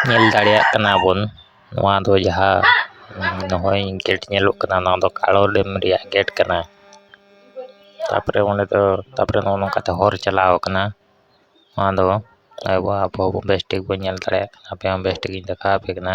ᱧᱮᱞ ᱫᱟᱲᱮᱭᱟᱜ ᱠᱟᱱᱟ ᱵᱚᱱ ᱱᱚᱣᱟ ᱫᱚ ᱡᱟᱦᱟᱸ ᱱᱚᱜᱼᱚᱭ ᱜᱮᱹᱴ ᱧᱮᱞᱚᱜ ᱠᱟᱱᱟ ᱱᱚᱣᱟ ᱫᱚ ᱠᱟᱞᱚ ᱰᱮᱢ ᱨᱮᱭᱟᱜ ᱜᱮᱹᱴ ᱠᱟᱱᱟ ᱛᱟᱨᱯᱚᱨᱮ ᱚᱸᱰᱮ ᱫᱚ ᱛᱟᱨᱯᱚᱨᱮ ᱱᱚᱜᱼᱚ ᱱᱚᱝᱠᱟ ᱛᱮ ᱦᱚᱨ ᱪᱟᱞᱟᱣ ᱠᱟᱱᱟ ᱱᱚᱣᱟ ᱫᱚ ᱟᱵᱚ ᱟᱵᱚ ᱵᱮᱥ ᱴᱷᱤᱠ ᱵᱚᱱ ᱧᱮᱞ ᱫᱟᱲᱮᱭᱟᱜ ᱠᱟᱱᱟ ᱟᱯᱮ ᱦᱚᱸ ᱵᱮᱥ ᱴᱷᱤᱠ ᱤᱧ ᱫᱮᱠᱷᱟᱣ ᱟᱯᱮ ᱠᱟᱱᱟ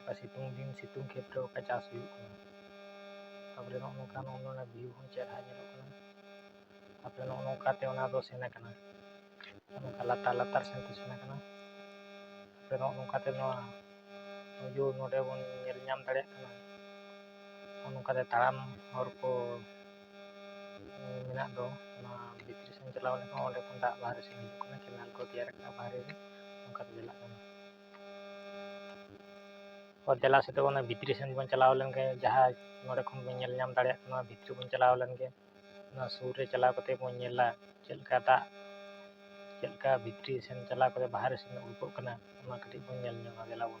ᱚᱠᱟ ᱥᱤᱛᱩᱝ ᱫᱤᱱ ᱥᱤᱛᱩᱝ ᱠᱷᱮᱛ ᱨᱮ ᱚᱠᱟ ᱪᱟᱥ ᱦᱩᱭᱩᱜ ᱠᱟᱱᱟ ᱛᱟᱯᱚᱨᱮ ᱱᱚᱜᱼᱚ ᱱᱚᱝᱠᱟ ᱱᱚᱜᱼᱚ ᱱᱚᱣᱟ ᱵᱷᱤᱭᱩ ᱦᱚᱸ ᱪᱮᱦᱨᱟ ᱧᱮᱞᱚᱜ ᱠᱟᱱᱟ ᱛᱟᱯᱚᱨᱮ ᱱᱚᱜᱼᱚ ᱱᱚᱝᱠᱟᱛᱮ ᱚᱱᱟ ᱫᱚ ᱥᱮᱱ ᱟᱠᱟᱱᱟ ᱱᱚᱝᱠᱟ ᱞᱟᱛᱟᱨ ᱞᱟᱛᱟᱨ ᱥᱮᱱ ᱛᱮ ᱥᱮᱱ ᱟᱠᱟᱱᱟ ᱛᱟᱯᱚᱨᱮ ᱱᱚᱜᱼᱚ ᱱᱚᱝᱠᱟᱛᱮ ᱱᱚᱣᱟ ᱵᱷᱤᱭᱩ ᱱᱚᱰᱮ ᱵᱚᱱ ᱧᱮᱞ ᱧᱟᱢ ᱫᱟᱲᱮᱭᱟᱜ ᱠᱟᱱᱟ ᱱᱚᱜᱼᱚ ᱱᱚᱝᱠᱟᱛᱮ ᱛᱟᱲᱟᱢ ᱦᱚᱨ ᱠᱚ ᱢᱮᱱᱟᱜ ᱫᱚ ᱚᱱᱟ ᱵᱷᱤᱛᱨᱤ ᱥᱮᱱ ᱪᱟᱞᱟᱣ ᱞᱮᱱᱠᱷᱟᱱ ᱚᱸᱰᱮ ᱠᱷᱚᱱ ᱫᱟᱜ ᱵᱟᱦᱨᱮ ᱥᱮᱱ ᱦᱤᱡᱩᱜ ᱠᱟᱱᱟ ᱠᱮᱱᱮᱞ ᱠᱚ ᱛᱮᱭᱟᱨ ᱟᱠᱟᱱᱟ ᱵᱟᱦᱨᱮ ᱨᱮ ᱚᱱᱠᱟᱛᱮ ᱪᱟᱞᱟᱜ ᱠᱟᱱᱟ ᱫᱮᱞᱟ ᱥᱮ ᱛᱟᱵᱚᱱ ᱵᱷᱤᱛᱨᱤ ᱥᱮᱱ ᱵᱚᱱ ᱪᱟᱞᱟᱣ ᱞᱮᱱᱜᱮ ᱡᱟᱦᱟᱸ ᱱᱚᱰᱮ ᱠᱷᱚᱱ ᱵᱚᱱ ᱧᱮᱞ ᱧᱟᱢ ᱫᱟᱲᱮᱭᱟᱜ ᱠᱟᱱᱟ ᱵᱷᱤᱛᱨᱤ ᱵᱚᱱ ᱪᱟᱞᱟᱣ ᱞᱮᱱᱜᱮ ᱚᱱᱟ ᱥᱩᱨ ᱨᱮ ᱪᱟᱞᱟᱣ ᱠᱟᱛᱮ ᱵᱚᱱ ᱧᱮᱞᱟ ᱪᱮᱫ ᱞᱮᱠᱟ ᱫᱟᱜ ᱪᱮᱫ ᱞᱮᱠᱟ ᱵᱷᱤᱛᱨᱤ ᱥᱮᱱ ᱪᱟᱞᱟᱣ ᱠᱟᱛᱮ ᱵᱟᱦᱨᱮ ᱥᱮᱱ ᱩᱰᱩᱠᱚᱜ ᱠᱟᱱᱟ ᱚᱱᱟ ᱠᱟᱹᱴᱤᱡ ᱵᱚᱱ ᱧᱮᱞ ᱧᱚᱜᱟ ᱫᱮᱞᱟ ᱵᱚᱱ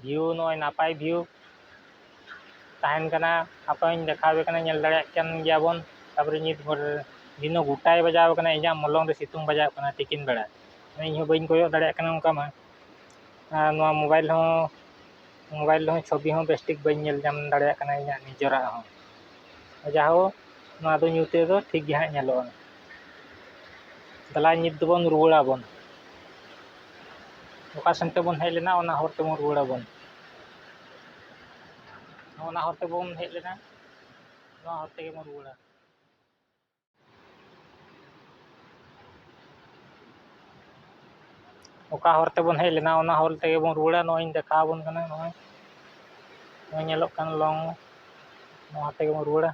ᱵᱷᱤᱭᱩ ᱱᱚᱜᱼᱚᱭ ᱱᱟᱯᱟᱭ ᱵᱷᱤᱭᱩ ᱛᱟᱦᱮᱱ ᱠᱟᱱᱟ ᱦᱟᱯᱮᱧ ᱫᱮᱠᱷᱟᱣ ᱟᱯᱮ ᱠᱟᱱᱟ ᱧᱮᱞ ᱫᱟᱲᱮᱭᱟᱜ ᱠᱟᱱ ᱜᱮᱭᱟᱵᱚᱱ ᱛᱟᱨᱯᱚᱨᱮ ᱧᱤᱛ ᱵᱷᱳᱨ ᱫᱤᱱᱚ ᱜᱚᱴᱟᱭ ᱵᱟᱡᱟᱣ ᱠᱟᱱᱟ ᱤᱧᱟᱹᱜ ᱢᱚᱞᱚᱝ ᱨᱮ ᱥᱤᱛᱩᱝ ᱵᱟᱡᱟᱣ ᱠᱟᱱᱟ ᱛᱤᱠᱤᱱ ᱵᱮᱲᱟ ᱤᱧ ᱦᱚᱸ ᱵᱟᱹᱧ ᱠᱚᱭᱚᱜ ᱫᱟᱲᱮᱭᱟᱜ ᱠᱟᱱᱟ ᱚᱱᱠᱟ ᱢᱟ ᱟᱨ ᱱᱚᱣᱟ ᱢᱳᱵᱟᱭᱤᱞ ᱦᱚᱸ ᱢᱳᱵᱟᱭᱤᱞ ᱨᱮᱦᱚᱸ ᱪᱷᱚᱵᱤ ᱦᱚᱸ ᱵᱮᱥ ᱴᱷᱤᱠ ᱵᱟᱹᱧ ᱧᱮᱞ ᱧᱟᱢ ᱫᱟᱲᱮᱭᱟᱜ ᱠᱟᱱᱟ ᱤᱧᱟᱹᱜ ᱱᱤᱡᱮᱨᱟᱜ ᱦᱚᱸ ᱡᱟᱭᱦᱳᱠ ᱱᱚᱣᱟ ᱫᱚ ᱧᱩᱛ ᱨᱮᱫᱚ ᱴᱷᱤᱠ ᱜᱮ ᱦᱟᱸᱜ ᱧᱮᱞᱚᱜᱼᱟ ᱫᱮᱞᱟ ᱧᱤᱛ ᱫᱚᱵᱚᱱ ᱨᱩᱣᱟᱹᱲᱟ ᱵᱚᱱ ᱚᱠᱟ ᱥᱮᱱ ᱛᱮᱵᱚᱱ ᱦᱮᱡ ᱞᱮᱱᱟ ᱚᱱᱟ ᱦᱚᱨ ᱛᱮᱵᱚᱱ ᱨᱩᱣᱟᱹᱲᱟ ᱵᱚᱱ ᱚᱱᱟ ᱦᱚᱨ ᱛᱮᱵᱚᱱ ᱦᱮᱡ ᱞᱮᱱᱟ ᱱᱚᱣᱟ ᱦᱚᱨ ᱛᱮᱜᱮ ᱵᱚᱱ ᱨᱩᱣᱟᱹᱲᱟ ᱚᱠᱟ ᱦᱚᱨ ᱛᱮᱵᱚᱱ ᱦᱮᱡ ᱞᱮᱱᱟ ᱚᱱᱟ ᱦᱚᱨ ᱛᱮᱜᱮ ᱵᱚᱱ ᱨᱩᱣᱟᱹᱲᱟ ᱱᱚᱜᱼᱚᱭᱤᱧ ᱫᱮᱠᱷᱟᱣ ᱟᱵᱚᱱ ᱠᱟᱱᱟ ᱱᱚᱜᱼᱚᱭ ᱱᱚᱜᱼᱚᱭ ᱧᱮᱞᱚᱜ ᱠᱟᱱ ᱞᱚᱝ ᱱᱚᱣᱟ ᱛᱮᱜᱮ ᱵᱚᱱ ᱨᱩᱣᱟᱹᱲᱟ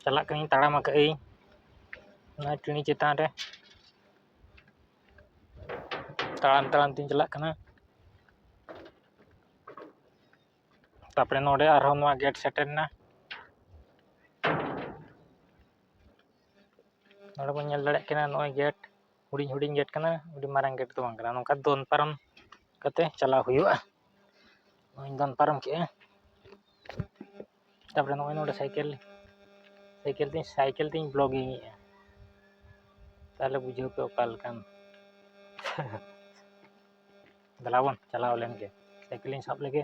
ᱪᱟᱞᱟᱜ ᱠᱟᱹᱱᱟᱹᱧ ᱛᱟᱲᱟᱢ ᱟᱠᱟᱫ ᱟᱹᱧ ᱚᱱᱟ ᱴᱟᱺᱰᱤ ᱪᱮᱛᱟᱱ ᱨᱮ ᱛᱟᱲᱟᱢ ᱛᱟᱲᱟᱢ ᱛᱤᱧ ᱪᱟᱞᱟᱜ ᱠᱟᱱᱟ ᱛᱟᱨᱯᱚᱨᱮ ᱱᱚᱰᱮ ᱟᱨᱦᱚᱸ ᱱᱚᱣᱟ ᱜᱮᱴ ᱥᱮᱴᱮᱨᱮᱱᱟ ᱱᱚᱰᱮ ᱵᱚᱱ ᱧᱮᱞ ᱫᱟᱲᱮᱭᱟᱜ ᱠᱟᱱᱟ ᱱᱚᱜᱼᱚᱭ ᱜᱮᱴ ᱦᱩᱰᱤᱧ ᱦᱩᱰᱤᱧ ᱜᱮᱹᱴ ᱠᱟᱱᱟ ᱟᱹᱰᱤ ᱢᱟᱨᱟᱝ ᱜᱮᱹᱴ ᱫᱚ ᱵᱟᱝ ᱠᱟᱱᱟ ᱱᱚᱝᱠᱟ ᱫᱚᱱ ᱯᱟᱨᱚᱢ ᱠᱟᱛᱮᱫ ᱪᱟᱞᱟᱣ ᱦᱩᱭᱩᱜᱼᱟ ᱱᱚᱜᱼᱚᱭ ᱤᱧ ᱫᱚᱱ ᱯᱟᱨᱚᱢ ᱠᱮᱫᱼᱟ ᱛᱟᱨᱯᱚᱨᱮ ᱱᱚᱜᱼᱚᱭ ᱱᱚᱰᱮ ᱥᱟᱭᱠᱮᱞ ᱥᱟᱭᱠᱮᱞ ᱛᱤᱧ ᱥᱟᱭᱠᱮᱞ ᱛᱤᱧ ᱵᱞᱚᱜᱤᱝ ᱮᱫᱼᱟ ᱛᱟᱦᱚᱞᱮ ᱵᱩᱡᱷᱟᱹᱣ ᱯᱮ ᱚᱠᱟ ᱞᱮᱠᱟᱱ ᱫᱮᱞᱟ ᱵᱚᱱ ᱪᱟᱞᱟᱣ ᱞᱮᱱᱜᱮ ᱥᱟᱭᱠᱮᱞᱤᱧ ᱥᱟᱵ ᱞᱮᱜᱮ